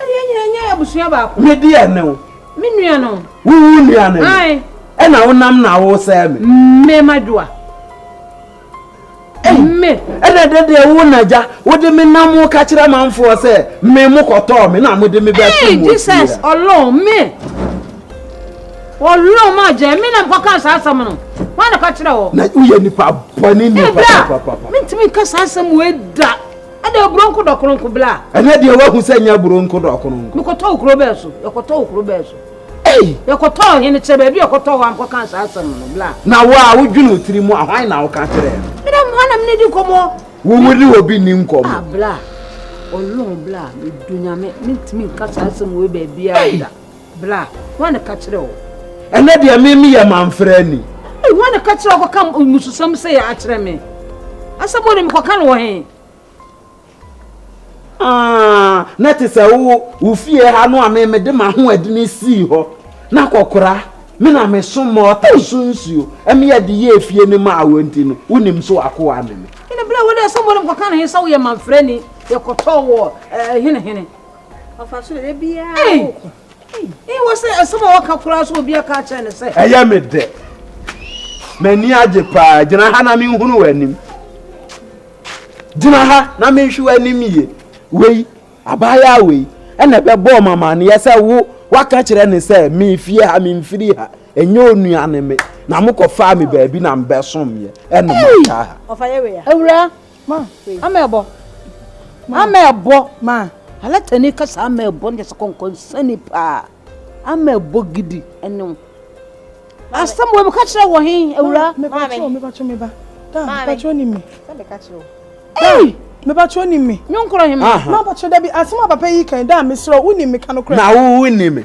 Ɛne yɛn nyinaa nyɛ abusua baako. Medi ɛne wo. Me nua no. Wo wo nua ne me. Ɛna wo nam na wo sɛɛ me. Me ma dwoa. Me. Ɛna ɛdɛ deɛ wo na gya wo de me nam wo ka kyerɛ manfoɔ sɛ me mo kɔtɔɔ me na mo de me bɛ to mu. Jesus ɔlɔn me. Ɔlɔn ma gya me na mo kɔka saa asɛm no. Wɔn na ka kyerɛ wɔ. Na woyɛ nipa bɔ ne nipa papa. Ɛbra. Mintimi nka saa asɛm wo ɛda. ɛna aburo nko dɔkono nko bla. ɛnɛ deɛ wahu sɛ nyɛ aburo nko dɔkono nko. mekɔtɔ wo kuro bɛɛ so yɛkɔtɔ wo kuro bɛɛ so. ei yɛkɔtɔ ɔhene kyɛ baabi yɛkɔtɔ hɔ ankɔka saa asɛm no bla. na wo a wodwene wo tiri mu a hwan na woka kyerɛɛ no. mena hɔ na mene di nkɔmmɔ. wowu ne obi nni nkɔmmɔ. ah bla ɔlɔn bla medu nyame mentumi nka saa asɛm wei baabiara da. Bra, hwan na ɛka kyerɛ wo? Ɛnɛ deɛ me meyɛ mamfrani. Hwan na ɛka kyerɛ wo kɔka mmususɛm sɛ yɛ akyerɛ me? Asɛm wɔ ne mekɔka no wɔ he? Ah, na te sɛ wo wo fie ha no a me mede m'ahoɔdene sii hɔ na kɔkora me na meso mɔɔta so nsuo ɛmeyɛ de yɛ efie no maa wɔ nti no wonim so akoa ne me. Ɛnɛ berɛ a wode asɛm wɔ ne mekɔka no he sɛ woyɛ mamfrani yɛkɔtɔɔ wɔ eh, hene hene ɔfa so dɛ biara woko ee wɔ sɛ asɛm a wɔka koraa so obi aka akyerɛ ne sɛ ɛyɛ me dɛ m'ani agye paa gyina ha na menhunu w'anim gyina ha na menhwe w'anim yie wei abaayaa wei ɛna ɛbɛbɔɔ mamaneɛ sɛ wo waka kyerɛ ne sɛ mefie ha memfiri ha ɛnyɛ onua ne me na mokɔfaa me baabi na mbɛsomyɛ ɛno mataa ha awura Ma. Ama ɛbɔ. Ma. Ama ɛbɔ. Ma. Alatani kasa ama ɛbɔ ne sɛ kɔnkɔnsani paa. Ama ɛbɔ gidi ɛne wo. Asɛm wɔ mu ka kyerɛ wɔ he awura. Maame. Mebakyɛ me ba. Da mebakyɛ onim me. Sɛ meka kyerɛ wo. Ei! Mebakyɛ onim me. Nyɔnkorɔ he ma. Mabakyɛ da bi asɛm a papa yi kan da mesrɛ wo wonim me ka no korɛ. Na wo wonim me.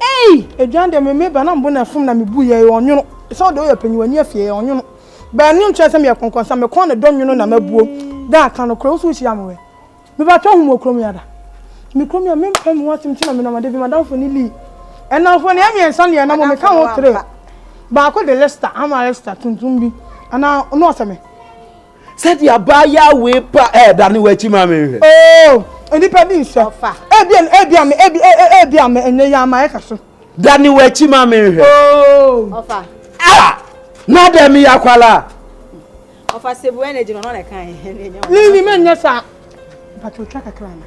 Ei! Aduan deɛ me meba na mbo na ɛfom na mebu yɛ yɛ ɔnwono sɛ ɔde ɔyɛ ɔpanyin w'ani afie yɛ ɔnwono bɛɛ no nkyerɛ sɛ meyɛ kɔnkɔnsa me kɔn ne dɔ nwono na mabuo da aka no korɛ wo so wo hyia me wɛ meba twɛ ho mu wɔ kurom yi ada me kurom yi a mempɛ me ho asɛm ti na menam ada bi madamfo ne Lee ɛnamfo ne ɛmiɛnsa ne ɛnam me ka ho three baako de lista ama lista tuntum bi anaa ɔno ɔsɛ me. sɛdeɛ abaayaa wei pa ɛredane w'akyi ma me nhwɛ. oo nnipa bi nhyɛ ebia ebia me ebi e, e, ebia me ɛnyɛ yi ama ɛka so. dane w'akyi ma me nhwɛ. oo ɔfa a na dɛ me ya kwala. ɔfa sebu energy no na kan. ne nyima nyɛ saa mpatotwa kakra na.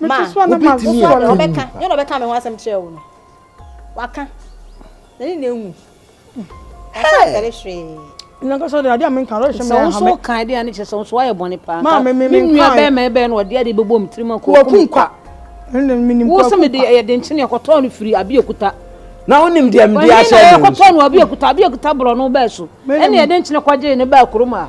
ma wobɛtumi a ɛwu ɔbɛka nyɛ na ɔbɛka me ho asɛm kyerɛ wo no waka na ne na ehu ɔsɛsɛre hwee nankasa de ade a menka ɔhwɛ me ahame sɛ wo kan de ane kyerɛ sɛ wo so wayɛ bɔne paa ma me me me nua bɛɛ ma ɛbɛɛ no ɔde ade bɛbɔ mu tirim akɔ wɔkum kwa wo sɛ mede ɛyɛ de nkyene ɛkɔtɔɔ no firi abi akuta na wonim deɛ mede ahyɛ no ɛkɔtɔɔ no abi akuta abi akuta borɔ no bɛɛ so ɛne ɛde nkyene kɔgyee ne baa kurom a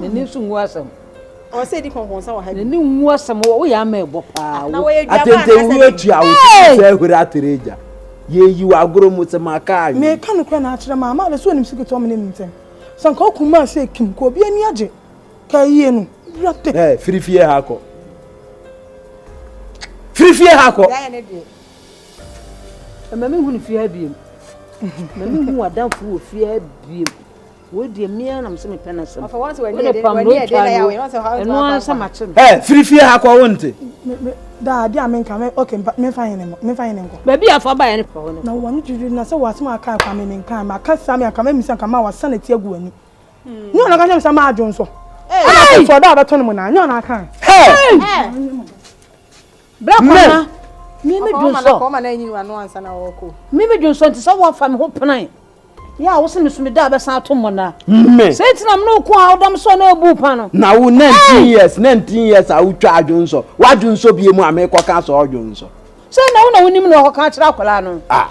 n'ani nso ngu asɛm ɔsɛ di kɔnkɔnsa wɔ ha n'ani ngu asɛm woyɛ ama ɛbɔ paa atɛntɛwuro atua wo sɛ ahuri atere agya yɛyi wɔ agorɔ mu sɛ maka awe meka no kora na akyerɛ ma ama abɛsɛ onim siketɔ me ne mu ntɛm sɛ nka wokum ma sɛ kim ka obi ani agye ka yie no wura tɛ firifie ha kɔ firifie ha kɔ Ɛma me hunu fie ha biem. Na me hu adanfo wɔ fie ha biem. Wei deɛ me ara nam sɛ mepɛ no asɛm. Wode pam no otwa no. Ɛno ara sɛ makye no. Ɛ firi fie ha kɔ wo nte. Daa de a menka me okay memfa hene mmɔ memfa hene nkɔ. Baabi a fa baeɛ no fa hɔ no. Na wɔn no twitwi na sɛ wɔasɛm a kaa kɔ a me menkaa ma ka saa me anka memmisa nka ma wɔasa na ti agu w'ani. Nyɛ ɔna ka kyerɛ me sɛ ma adwo nso. Ɛna sɛ ɔda a bɛto no mo naa nyɛ ɔna kaa. Hey! Bra kɔ ma. Me me dun sɔ. Kɔ ma na enyi wano ansa na ɔkɔ. Me me dun sɔ nti sɛ wɔn fa me ho penan. Yɛ a wosi me so me da abɛsan ato mmɔ na. Me. Sɛ nti na me no ko a wodam sɔ na ebu pa no. Na wo nineteen years nineteen years a wotwa adwon sɔ. Wadwon sɔ bie mu a mekɔ ka sɔ ɔdwon sɔ. Sɛ na wo na wonim na ɔkɔ ka akyerɛ akwadaa no. Ah.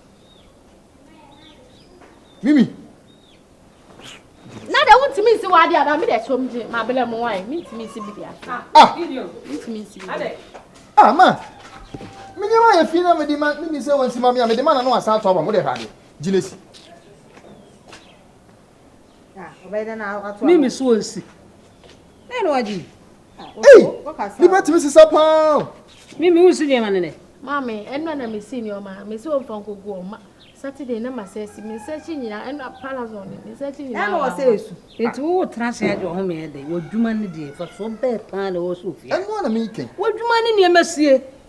mimi na de wontumi nsi w'ade anaa me de ɛsɔ m gye mabelɛ mu wae mentumi nsi bi de aso ah. mentumi nsi bi de ah ma me nneɛma yɛ fi na mede ma mimi sɛ wɔnsi ma me a mede ma na no asan ato aba mo de hwɛ ade gyina si Me me so nsi. Dɛn na wagye yi? Ei! Ne bɛtumi sesa paa. Me me wonsi nneɛma ne nɛ. Maame, ɛnna na mesi nneɛma. Mesi wɔn fa nkogu wɔn ma. Saturday na ma sɛ si. Me nsa akyi nyinaa ɛnna palazon ne me nsa akyi nyinaa. Ɛnna wɔsɛ esu. Eti wo tena ase agye wɔn mmeɛ de. Wɔdwuma ne deɛ fa so bɛɛ paa na wɔsɛ ofie. Ɛnna na meyikɛn. Wɔdwuma ne nneɛma sie.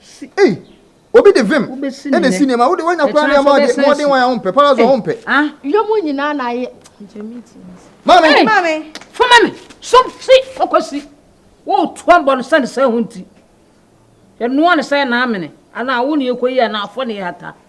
Si, ei! Obi de vim Wobɛsi ne na esi nnɛ. nneɛma. Wode wanya koraa Ɛkyena nneɛma nso a deɛ wobɛsan mmɔden si. wan a wompɛ. Paradise a Ei! wompɛ. Ah! Yɛ mo nyinaa na ayɛ. Nkyɛ me ti me se. Maame! Ei! Maame! Fa ma me! Som si! Fa kɔ si! Woretu abɔ no sɛne sɛ ɛho nti. Yɛnoa no sɛ ɛna amene. Anaa wo na yɛkɔyi anaa fɔ na yɛhata.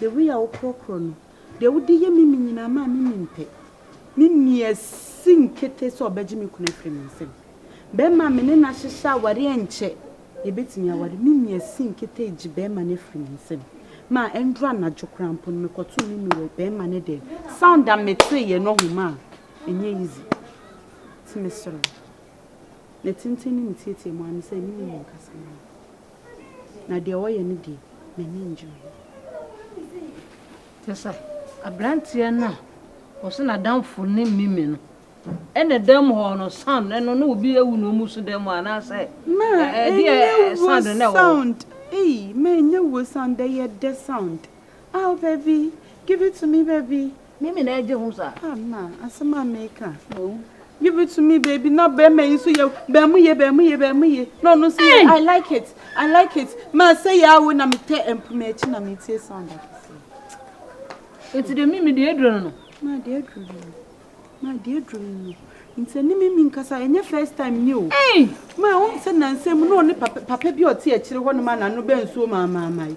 Deɛ woyɛ a wokorɔkorɔ no. Deɛ wode yɛ me me nyinaa maa me nim pɛ. Ne nni asi nkete sɛ ɔbɛgye me kunu afiri me nsam. Bɛrima a me ne no ahyehyɛ aware ankyɛ yɛbɛtumi aware. Ne nni asi nkete regye bɛrima no afiri me nsam. Ma ɛnduru anadwo koraa mpo no mekɔtoo me nuu wɔ bɛrima no dɛm. Sound a meteeɛ no ɔho maa ɛnyɛ easy. Nti mesrɛ wo. Ne tenten ne ne teateamu ara ne sɛ me ne no nkasa mma. Na deɛ ɔyɛ no deɛ, m'ani nnye ho. Kyerɛ sɛ, aberanteɛ no a ɔse n'adamfo ne Mimi no, ɛna dam hɔ no, sound no, na obi awu na wɔn so dam hɔ anaasɛ ɛdeɛ sound no na ɛwɔ hɔ? Ei, ma ɛnyɛ wuo sound, ɛyɛ dɛ sound. Aw baby, give it to me baby, Me me na ɛgye ho sa. Ha na asɛm a meka. Give it to me baby na bɛrima yi nso yɛ bɛrima yɛ bɛrima yɛ bɛrima yɛ na ɔno nso yɛ I like it I like it ma sɛ yɛ awo na metɛ mpoma akyi na metie sound akɛse. Nti deɛ mimi deɛ aduro no no. Ma deɛ aduro no no ma deɛ aduro no no nti ne mimi nkasa ɛnyɛ first time ni o. Ma wɔn sɛ nansa mu na ɔne papa papa bi ɔte akyire hɔ no ma n'ano bɛ nsuo maamaama yi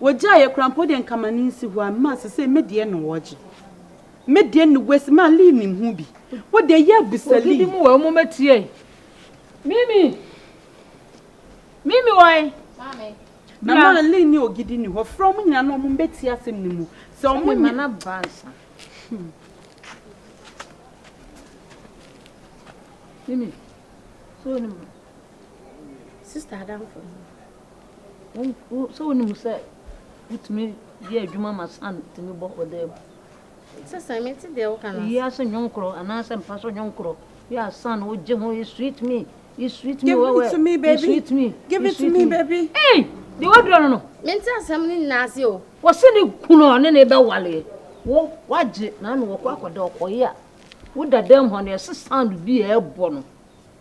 Wɔgyaa yɛ koraa mpo deɛ nka ma ne nsi hɔ a ma sesei me deɛ na wɔgye me deɛ ne west ma Lee nim ho bi wo deɛ yɛ abisa Lee. Ogidi mu wɔ mu ma tie. Mimi Mimi wɔ he? Maame. Na ma Lee ne Ogidi ni hɔ frɛ wɔn nyinaa na wɔn bɛ tie asɛm no mu sɛ wɔn nyɛ. Sɛ mema na ba nsa. Hmm. Mimi. So ne mu. Sister Adamfo. Sɛ wunim sɛ wutumi yɛ adwuma ma san tumi bɔ ɔdan mu. Sesa, mente deɛ woka no ase. Eyi ase nnwom koro anaasɛ mpa so nnwom koro yɛ a san wogye ho you sweet me, you sweet me wɛwɛ, you sweet me, give it to me baby. Ei! Deɛ wadura no no. Mente asɛm no nyinaa ase o. Wɔse ne kunu a ɔne ne bɛwaleɛ wo wagye na na wɔkɔ akɔda ɔkɔyɛ a woda dan mu hɔ no ɛse sound bi a ɛbɔ no.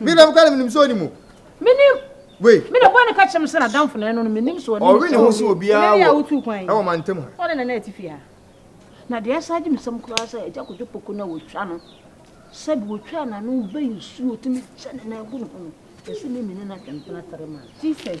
Me na mokra no menim sɛ ɔnim o. Menim. Wei. Me na bɔɔ ne ka kyerɛ me sɛ n'adamfo na ɛno no menim sɛ ɔnim. Ɔwe ne ho sɛ obiara wɔ wotu kwan yi. Ɛwɔ mantam ha. Ɔne nana atifi ha. Na deɛ ɛsan gye me sɛm koraa sɛ agya kodwo poko no a wɔtwa no sɛbi wɔtwa n'ano bɛyi nsuo tumi kyɛ ne nan gu ne ho no ɛsɛ me mene no atwe mpena tare ma. Jesus.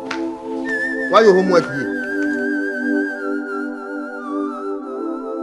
Wayɛ homework yie.